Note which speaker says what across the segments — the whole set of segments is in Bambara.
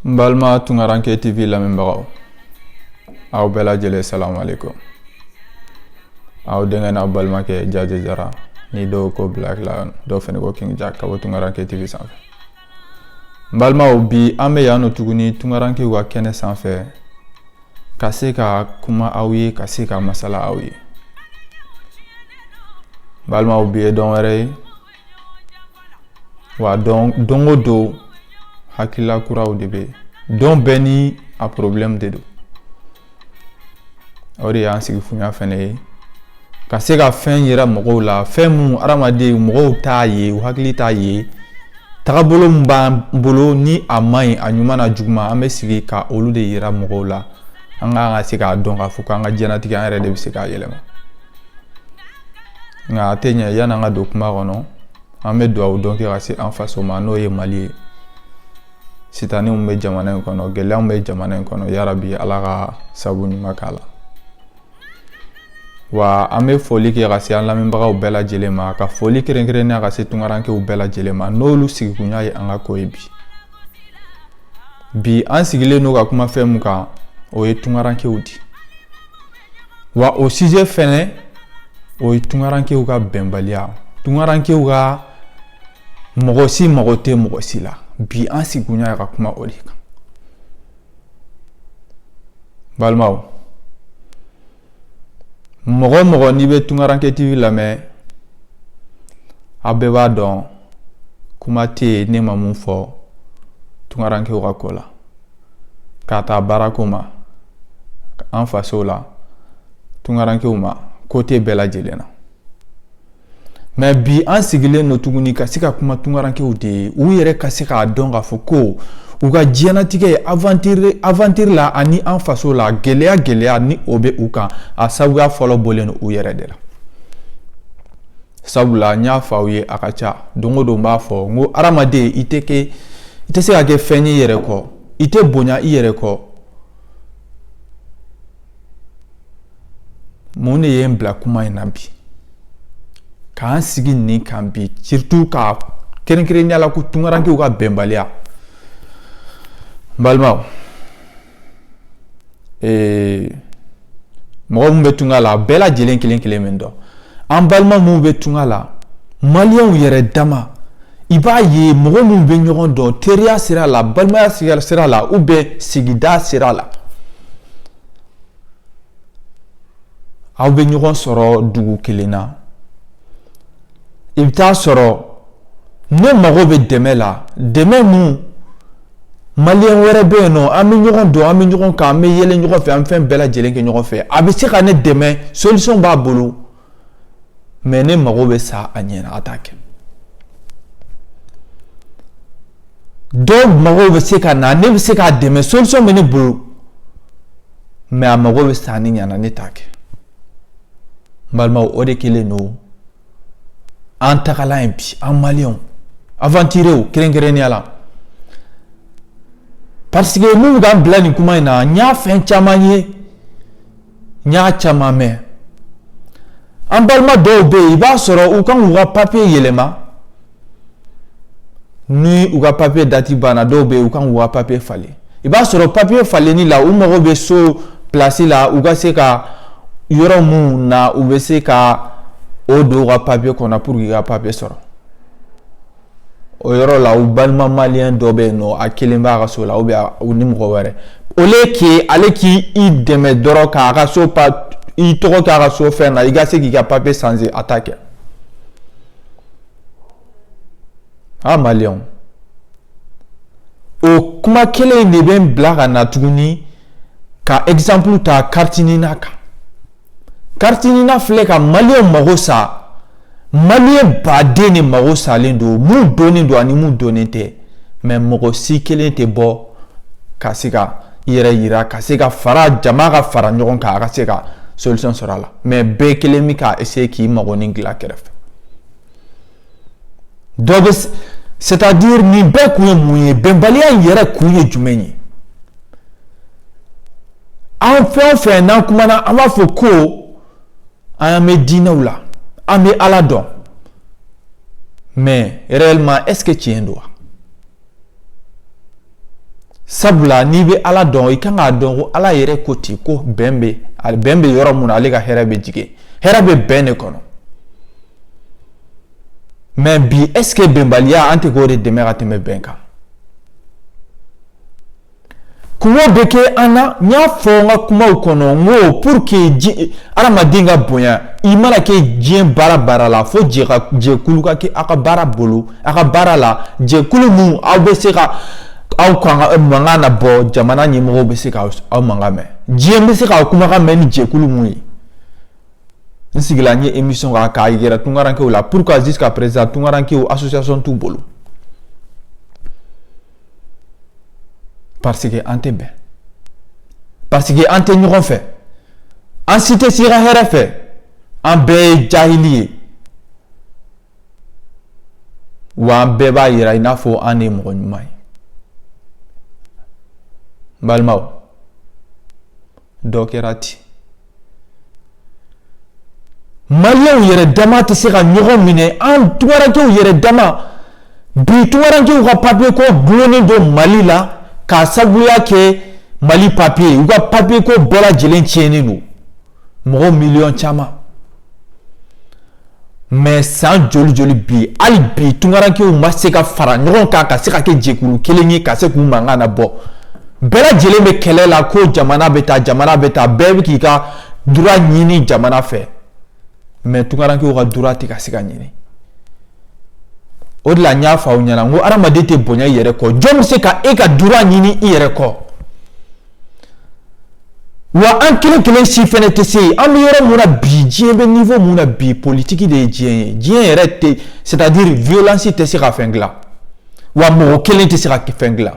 Speaker 1: n balima tunkaranke tv lamɛnbagaw aw bɛɛ lajɛlen salamu aleykum aw denkɛ n'aw balimakɛ jaje jara ni dɔw ko black lion dɔw fɛnɛ ko king jack ka bɔ tunkaranke tv sanfɛ n balimaw bi an bɛ yan nɔ tuguni tunkarankew ka kɛnɛ sanfɛ ka se ka kuma aw ye ka se ka masala aw ye balimaw bi ye don wɛrɛ ye wa don o don hakilila kuraw de bɛ yen don bɛɛ ni a porobilɛmu de don o de y'an sigikunya fɛnɛ ye ka se ka fɛn yira mɔgɔw la fɛn minnu hadamaden mɔgɔw t'a ye u hakili t'a ye tagabolo min b'an bolo ni a man ɲi a ɲuman n'a juguman an bɛ sigi ka olu de yira mɔgɔw la an ka se k'a dɔn k'a fɔ k'an ka diɲɛnatigɛ an yɛrɛ de bɛ se k'a yɛlɛma nka a tɛ ɲɛ yan'an ka don kuma kɔnɔ an bɛ dugawu don kɛ ka se an faso ma n'o ye mali ye sitanɛ min bɛ jamana in kɔnɔ gɛlɛya min bɛ jamana in kɔnɔ yarabi ala ka sabu ɲuman k'a la wa an bɛ foli kɛ ka se an lamɛnbagaw bɛɛ lajɛlen ma ka foli kɛrɛnkɛrɛnnenya ka se tunkarankew bɛɛ lajɛlen ma n'olu sigikunya ye an ka ko ye bi bi an sigilen don ka kuma fɛn mun kan o ye tunkarankew di wa o sijɛ fɛnɛ o ye tunkarankew ka bɛnbaliya tunkarankew ka mɔgɔ si mago tɛ mɔgɔ si la bi an sigikunya ye ka kuma o de kan balimaw mɔgɔ o mɔgɔ n'i bɛ tunkaranke tv lamɛn aw bɛɛ b'a dɔn kuma tɛ yen ne ma mun fɔ tunkarankew ka ko la k'a ta baarako ma an fasow la tunkarankew ma côté bɛɛ lajɛlen na mɛ bi an sigilen don tuguni ka se ka kuma tunkarankew de ye u yɛrɛ ka se k'a dɔn k'a fɔ ko u ka diɲɛnatigɛ ye aventure la ani an faso la gɛlɛya gɛlɛya ni o bɛ u kan a sabuya fɔlɔ bɔlen u yɛrɛ de la sabula n y'a fɔ aw ye a ka ca don o don b'a fɔ n ko hadamaden i tɛ se ka kɛ fɛn ye i yɛrɛ kɔ i tɛ bonya i yɛrɛ kɔ mun de ye n bila kuma in na bi k'an sigi nin kan bi surtout ka kɛrɛnkɛrɛnnenya la ko tunkarankew ka bɛnbaliya n balimaw ee mɔgɔ min bɛ tunga la a bɛɛ lajɛlen kelen kelen bɛ n dɔn an balima minnu bɛ tunga la maliyɛnw yɛrɛ dama i b'a ye mɔgɔ minnu bɛ ɲɔgɔn dɔn teriya sira la balimaya sira la ou bien sigida sira la aw bɛ ɲɔgɔn sɔrɔ dugu kelen na i bɛ taa sɔrɔ ne mago bɛ dɛmɛ la dɛmɛ min maliyɛn wɛrɛ bɛ yen nɔ an bɛ ɲɔgɔn dɔn an bɛ ɲɔgɔn kan an bɛ yɛlɛ ɲɔgɔn fɛ an bɛ fɛn bɛɛ lajɛlen kɛ ɲɔgɔn fɛ a bɛ se ka ne dɛmɛ solisɔn b'a bolo mɛ ne mago bɛ sa a ɲɛ na a t'a kɛ dɔw mago bɛ se ka na ne bɛ se k'a dɛmɛ solisɔn bɛ ne bolo mɛ a mago bɛ sa ne ɲɛ na ne t'a kɛ n balimaw o de kɛlen don an tagalan ye bi an maliyɛnw awantirew kɛrɛnkɛrɛnnenya la parce que minnu k'an bila nin kuma in na n y'a fɛn caman ye n y'a caman mɛn an balima dɔw bɛ yen i b'a sɔrɔ u kan k'u ka papiye yɛlɛma ni u ka papiye dati banna dɔw bɛ yen u kan k'u ka papiye falen i b'a sɔrɔ papiye falenni la u mago bɛ so pilasi la u ka se ka yɔrɔ minnu na u bɛ se ka o don u ka papiye kɔnɔ pour que ka papiye sɔrɔ o yɔrɔ la u balima maliyɛn dɔ bɛ yen nɔ a kelen b'a ka so la ou bien u ni mɔgɔ wɛrɛ au lieu que ale k'i dɛmɛ dɔrɔn k'a ka so pa i tɔgɔ k'a ka so fɛn na i ka se k'i ka papiye sanze a t'a kɛ A maliyɛnw o kuma kelen in de bɛ n bila ka na tuguni ka exemple ta kariti nina kan kariti nina filɛ ka maliyɛn mago sa maliyɛn baden de mago salen don min dɔnnen don ani min dɔnnen tɛ mɛ mɔgɔ si kelen tɛ bɔ ka se ka i yɛrɛ yira ka se ka fara jama ka fara ɲɔgɔn kan a ka se ka solution sɔrɔ a la mɛ bɛɛ kelen bɛ ka essayer k'i magonin dilan kɛrɛfɛ dɔ bɛ c'est à dire nin bɛɛ kun ye mun ye bɛnbaliya in yɛrɛ kun ye jumɛn ye an fɛn o fɛn n'an kumana an b'a fɔ ko an bɛ diinɛw la an bɛ ala dɔn mais réellement est ce que tiɲɛ don wa sabula n'i bɛ ala dɔn i kan k'a dɔn ko ala yɛrɛ ko ten ko bɛn bɛ bɛn bɛ yɔrɔ min na ale ka hɛrɛ bɛ jigin hɛrɛ bɛ bɛn de kɔnɔ mɛ bi ɛske bɛnbaliya an tɛ k'o de dɛmɛ ka tɛmɛ bɛn kan Kuma bɛ kɛ an na n y'a fɔ n ka kumaw kɔnɔ n ko pour que adamaden ka bonya i mana kɛ diɲɛ baara baara la fo jɛkulu ka kɛ aw ka baara bolo aw ka baara la jɛkulu min aw bɛ se ka aw mankan na bɔ jamana ɲɛmɔgɔw bɛ se ka aw mankan mɛn diɲɛ bɛ se k'aw kumakan mɛn ni jɛkulu min ye n sigila n ye émission k'a yɛrɛ tunkarankew la pourquoi jusqu'à présent tunkarankew association t'u bolo parce que an tɛ bɛn parce que an tɛ ɲɔgɔn fɛ an si tɛ si ka hɛrɛ fɛ an bɛɛ ye jahili ye wa an bɛɛ b'a yira i n'a fɔ an de ye mɔgɔ ɲuman ye n balimaw dɔ kɛra ten maliyɛnw yɛrɛ dama tɛ se ka ɲɔgɔn minɛ an tunkarankew yɛrɛ dama bi tunkarankew ka papiye ko dulonnen don mali la k'a sabuya kɛ mali papiye u ka papiye ko bɛɛ lajɛlen tiɲɛnen don mɔgɔ miliyɔn caman mais san joli joli bi hali bi tunkarankew ma se ka fara ɲɔgɔn kan ka se ka kɛ jɛkulu kelen ye ka se k'u mankan na bɔ bɛɛ lajɛlen bɛ kɛlɛ la ko jamana bɛ taa jamana bɛ taa bɛɛ bɛ k'i ka droit ɲini jamana fɛ mais tunkarankew ka droit tɛ ka se ka ɲini o de la n y'a fɔ aw ɲɛna n ko hadamaden tɛ bonya i yɛrɛ kɔ jɔn bɛ se ka e ka droit ɲini i yɛrɛ kɔ Wa an kelen kelen si fɛnɛ tɛ se an bɛ yɔrɔ mun na bi diɲɛ bɛ niveau mun na bi politiki de ye diɲɛ ye diɲɛ yɛrɛ tɛ c'est à dire violence tɛ se ka fɛn dila wa mɔgɔ kelen tɛ se ka fɛn dila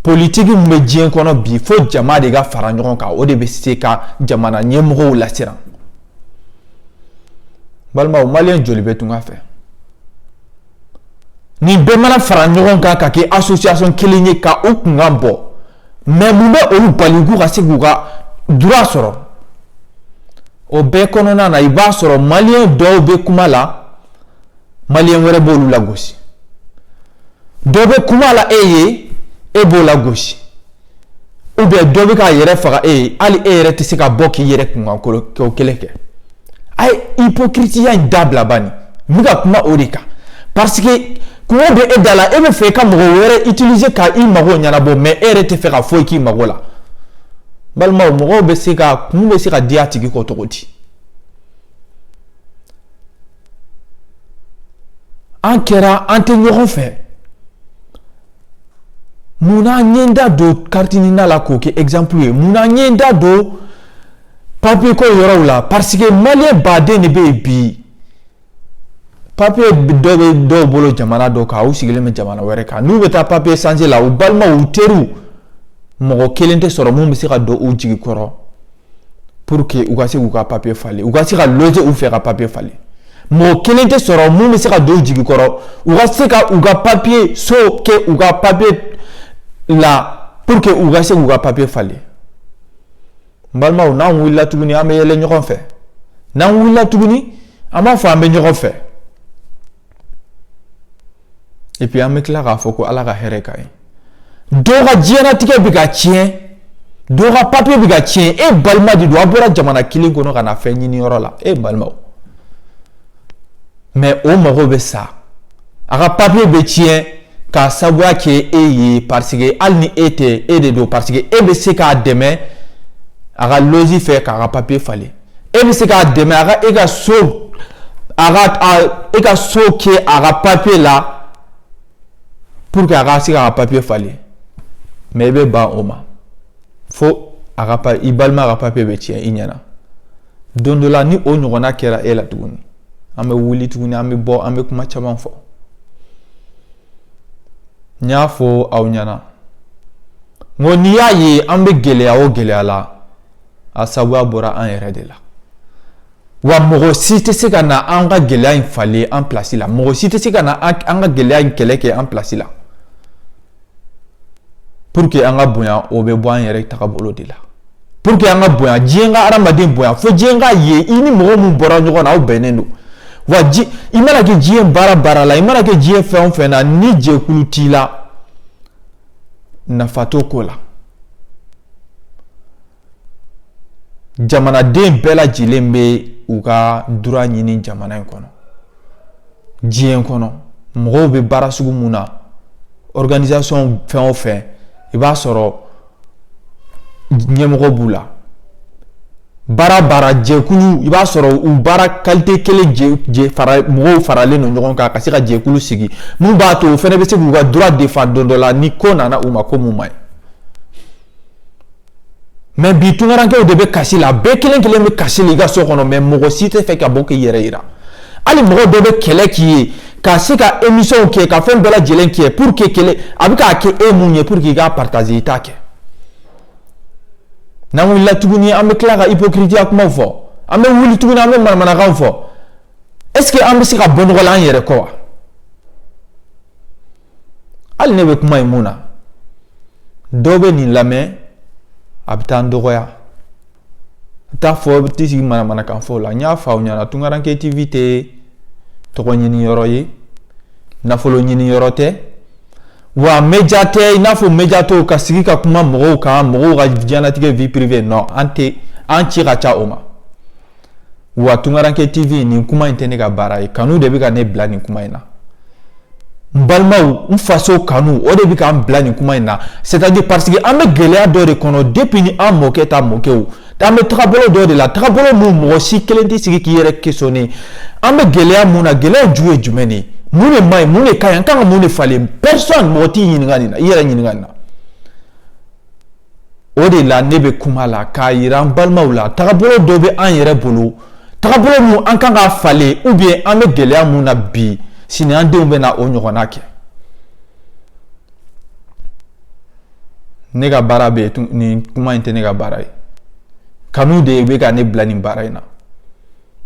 Speaker 1: politiki mun bɛ diɲɛ kɔnɔ bi fo jama de ka fara ɲɔgɔn kan o de bɛ se ka jamana ɲɛmɔgɔw lasiran balimaw maliyɛn joli bɛ tunka fɛ Nin bɛɛ mana fara ɲɔgɔn kan ka kɛ association kelen ye ka u kunkan bɔ mais mun bɛ olu bali k'u ka se k'u ka droit sɔrɔ o bɛɛ kɔnɔna na i b'a sɔrɔ maliyɛn dɔw bɛ kuma la maliyɛn wɛrɛ b'olu lagosi dɔ bɛ kuma la e ye e b'o lagosi ou bien dɔ bɛ k'a yɛrɛ faga e ye hali e yɛrɛ tɛ se ka bɔ k'i yɛrɛ kunkanko kelen kɛ a ye ipokiritiya in dabila bani n bɛ ka kuma o de kan parce que kunko bɛ e da la e bɛ fɛ i ka mɔgɔ wɛrɛ utiliser ka i mago ɲɛnabɔ mais e yɛrɛ tɛ fɛ ka foyi k'i mago la balimaw mɔgɔw bɛ se ka kun bɛ se ka di a tigi kɔ cogo di an kɛra an tɛ ɲɔgɔn fɛ Munna n ye n da don carte NINA la k'o kɛ exemple ye munna n ye n da don papier ko yɔrɔw la parce que maliyɛn baden de bɛ yen bi papier dɔ bɛ dɔw bolo jamana dɔ kan u sigilen bɛ jamana wɛrɛ kan n'u bɛ taa papier changer la u balimaw u teriw mɔgɔ kelen tɛ sɔrɔ mun bɛ se ka don u jigi kɔrɔ pour que u ka se k'u ka papier falen u ka se ka loger u fɛ ka papier falen mɔgɔ kelen tɛ sɔrɔ mun bɛ se ka don u jigi kɔrɔ u ka se ka u ka papier so kɛ u ka papier la pour que u ka se k'u ka papier falen n balimaw n'an wulila tuguni an bɛ yɛlɛ ɲɔgɔn fɛ n'an wulila tuguni an b'a fɔ an bɛ ɲɔgɔn fɛ Et puis an bɛ tila k'a fɔ ko Ala ka hɛrɛ k'an ye. Dɔw ka diɲɛlatigɛ bɛ ka tiɲɛ, dɔw ka papier bɛ ka tiɲɛ, e balima de don a bɔra jamana kelen kɔnɔ ka na fɛn ɲini yɔrɔ la, e balimaw. Mais o mago bɛ sa, a ka papier bɛ tiɲɛ k'a sabuya kɛ e ye parce que hali ni e tɛ e de don parce que e bɛ se k'a dɛmɛ a ka loger i fɛ k'a ka papier falen. e bɛ se k'a dɛmɛ a ka e ka so a ka e ka so kɛ a ka papier la pour que a ka se k'a ka papier falen mais i bɛ ban o ma fo a ka pa i balima ka papier bɛ tiɲɛ i ɲɛna don dɔ la ni o ɲɔgɔnna kɛra e la tuguni an bɛ wuli tuguni an bɛ bɔ an bɛ kuma caman fɔ n y'a fɔ aw ɲɛna n ko n'i y'a ye an bɛ gɛlɛya o gɛlɛya la a sabuya bɔra an yɛrɛ de la wa mɔgɔ si tɛ se ka na an ka gɛlɛya in falen an place la mɔgɔ si tɛ se ka na an ka gɛlɛya in kɛlɛ kɛ an place la pour que an ka bonya o bɛ bɔ an yɛrɛ tagabolo de la pour que an ka bonya diɲɛ ka hadamaden bonya fo diɲɛ k'a ye i ni mɔgɔ min bɔra ɲɔgɔn na aw bɛnnen don wa ji i mana kɛ diɲɛ baara baara la i mana kɛ diɲɛ fɛn o fɛn na ni jɛkulu t'i la nafa t'o ko la jamanaden bɛɛ lajɛlen bɛ u ka droit ɲini jamana in kɔnɔ diɲɛ kɔnɔ mɔgɔw bɛ baara sugu mun na organisation fɛn o fɛn i b'a sɔrɔ ɲɛmɔgɔ b'u la baara baara jɛkulu i b'a sɔrɔ u baara qualité kelen jɛ fara mɔgɔw faralen don ɲɔgɔn kan ka se ka jɛkulu sigi mun b'a to o fana bɛ se k'u ka droit défendre don dɔ la ni ko nana u ma ko mun man ɲi mais bi tunkarankew de bɛ kasi la bɛɛ kelen kelen bɛ kasi la i ka so kɔnɔ mais mɔgɔ si tɛ fɛ ka bɔ k'i yɛrɛ yira hali mɔgɔ dɔ bɛ kɛlɛ k'i ye ka se ka émissionw kɛ ka fɛn bɛɛ lajɛlen kɛ pour que kɛlɛ a bɛ k'a kɛ e mun ye pour que i k'a partager i t'a kɛ n'an wulila tuguni an bɛ tila ka ipokiritiya kumaw fɔ an bɛ wuli tuguni an bɛ manamanakan fɔ est-ce que an bɛ se ka bɔ nɔgɔ la an yɛrɛ kɔ wa hali ne bɛ kuma in mun na dɔw bɛ nin lamɛn a bɛ taa n dɔgɔya a bɛ taa fɔ bɛ t'i sigi manamanakan fɔ la n y'a fɔ aw ɲɛna tunkaranke tv tɛ tɔgɔ ɲini yɔrɔ ye nafolo ɲini yɔrɔ tɛ wa média tɛ i n'a fɔ média tɔw ka sigi ka kuma mɔgɔw kan mɔgɔw ka diɲɛnatigɛ vie privée non an ci ka ca o ma wa tunkaranke tv nin kuma in tɛ ne ka baara ye kanu de bɛ ka ne bila nin kuma in na n balimaw n faso kanu o de bɛ ka an bila nin kuma in na c'est-à-dire parce que an bɛ gɛlɛya dɔ de kɔnɔ depuis ni an mɔkɛ ta mɔkɛw An bɛ tagabolo dɔ de la tagabolo mun mɔgɔ si kelen tɛ sigi k'i yɛrɛ questionner an bɛ gɛlɛya mun na gɛlɛya ju ye jumɛn de ye mun de man ɲi mun de ka ɲi an kan ka mun de falen personne mɔgɔ t'i ɲininka nin na i yɛrɛ ɲininka nin na o de la ne bɛ kuma la k'a yira an balimaw la tagabolo dɔ bɛ an yɛrɛ bolo tagabolo min an kan ka falen ou bien an bɛ gɛlɛya mun na bi sini an denw bɛ na o ɲɔgɔnna kɛ ne ka baara bɛ nin kuma in tɛ ne ka baara ye kanu de bɛ ka ne bila nin baara in na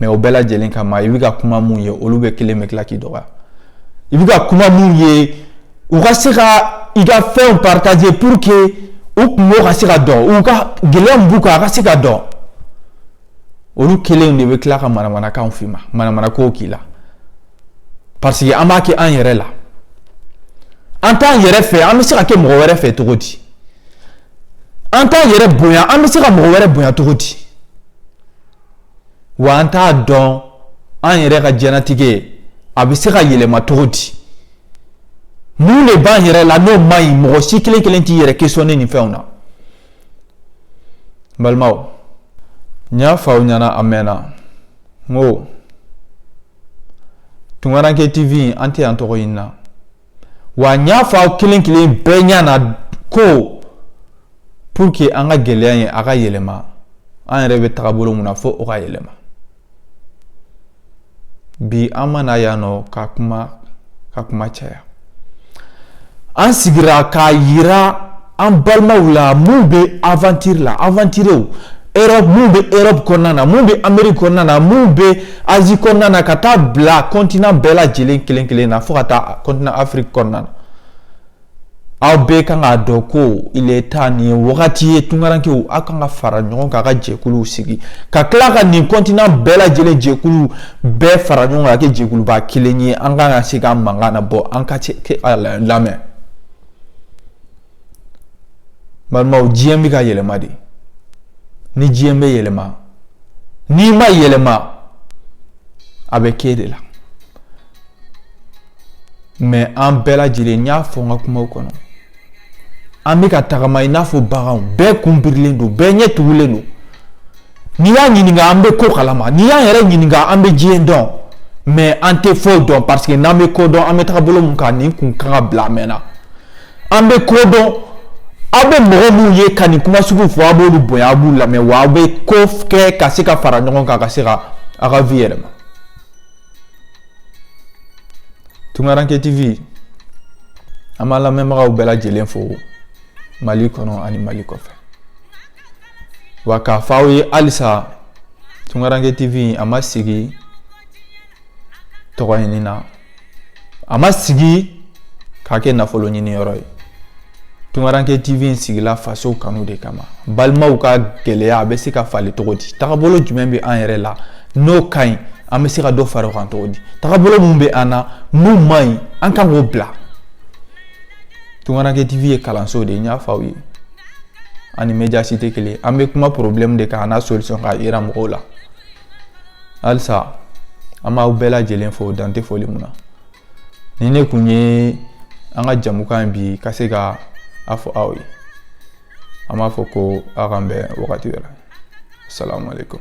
Speaker 1: mais o bɛɛ lajɛlen kama i bɛ ka kuma minnu ye olu bɛ kelen bɛ tila k'i dɔgɔya i bɛ ka kuma minnu ye u ka se ka i ka fɛnw partager pour que u kunko ka se ka dɔn u ka gɛlɛya b'u kan a ka se ka dɔn olu kelen de bɛ tila ka manamanakanw f'i ma manamanakow k'i la parce que an b'a kɛ an yɛrɛ la an t'an yɛrɛ fɛ an bɛ se ka kɛ mɔgɔ wɛrɛ fɛ cogo di an t'an yɛrɛ bonya an bɛ se ka mɔgɔ wɛrɛ bonya cogo di wa an t'a dɔn an yɛrɛ ka diɲɛnatigɛ a bɛ se ka yɛlɛma cogo di mun de b'an yɛrɛ la n'o man ɲi mɔgɔ si kelen kelen t'i yɛrɛ questionner nin fɛnw na n balimaw n y'a fɔ aw ɲɛna a mɛnna n ko tunkaranke tv an tɛ yan tɔgɔ ɲini na wa n y'a fɔ aw kelen kelen bɛɛ ɲɛna ko pour que an ka gɛlɛya in a ka yɛlɛma an yɛrɛ bɛ tagabolo mun na fo o ka yɛlɛma bi an ma na yan nɔ ka kuma ka kuma caya an sigira k'a yira an balimaw la mun bɛ aventure la aventurew Europe mun bɛ Europe kɔnɔna na mun bɛ Amérique kɔnɔna na mun bɛ Asie kɔnɔna na ka taa bila continent bɛɛ lajɛlen kelen kelen na fo ka taa continent Afrique kɔnɔna na aw bɛɛ kan k'a dɔn ko il est temps nin ye wagati ye tunkarankew aw kan ka fara ɲɔgɔn kan ka jɛkuluw sigi ka tila ka nin continent bɛɛ lajɛlen jɛkulu bɛɛ fara ɲɔgɔn kan ka kɛ jɛkuluba kelen ye an kan ka se ka mankan na bɔ an ka lamɛn balimaw diɲɛ bɛ ka yɛlɛma dɛ ni diɲɛ bɛ yɛlɛma n'i ma yɛlɛma a bɛ k'e de la Mais an bɛɛ lajɛlen n y'a fɔ n ka kuma kɔnɔ an bɛ ka tagama i n'a fɔ bagan bɛɛ kun birilen don bɛɛ ɲɛ tugulen don n'i y'a ɲininka an bɛ ko kalama n'i y'an yɛrɛ ɲininka an bɛ diɲɛ dɔn mais an tɛ foyi dɔn parce que n'an bɛ ko dɔn an bɛ tagabolo min kan nin kun kan ka bila a mɛnna an bɛ ko dɔn aw bɛ mɔgɔ minnu ye ka nin kuma sugu fɔ aw b'olu bonya aw b'u lamɛn wa aw bɛ ko kɛ ka se ka fara ɲɔgɔn kan ka se ka aw ka vie yɛlɛma Tunkaranke TV an b'a lamɛnbagaw bɛɛ lajɛlen fo Mali kɔnɔ ani Mali kɔfɛ wa k'a fɔ aw ye halisa Tunkaranke TV a ma sigi tɔgɔ ɲini na a ma sigi k'a kɛ nafolo ɲini yɔrɔ ye Tunkaranke TV sigila faso kanu de kama balimaw ka gɛlɛya a bɛ se ka falen cogo di tagabolo jumɛn bɛ an yɛrɛ la n'o ka ɲi an bɛ se ka dɔ fara o kan cogo di tagabolo min bɛ an na n'o man ɲi an kan k'o bila Tunkaranke TV ye kalanso de ye n y'a fɔ aw ye a ni média si tɛ kelen an bɛ kuma problème de kan an'a solution k'a yira mɔgɔw la halisa an b'aw bɛɛ lajɛlen fo dan tɛ foli min na nin de kun ye an ka jamukan bi ka se ka a fɔ aw ye an b'a fɔ ko aw k'an bɛn wagati wɛrɛ salamu aleykum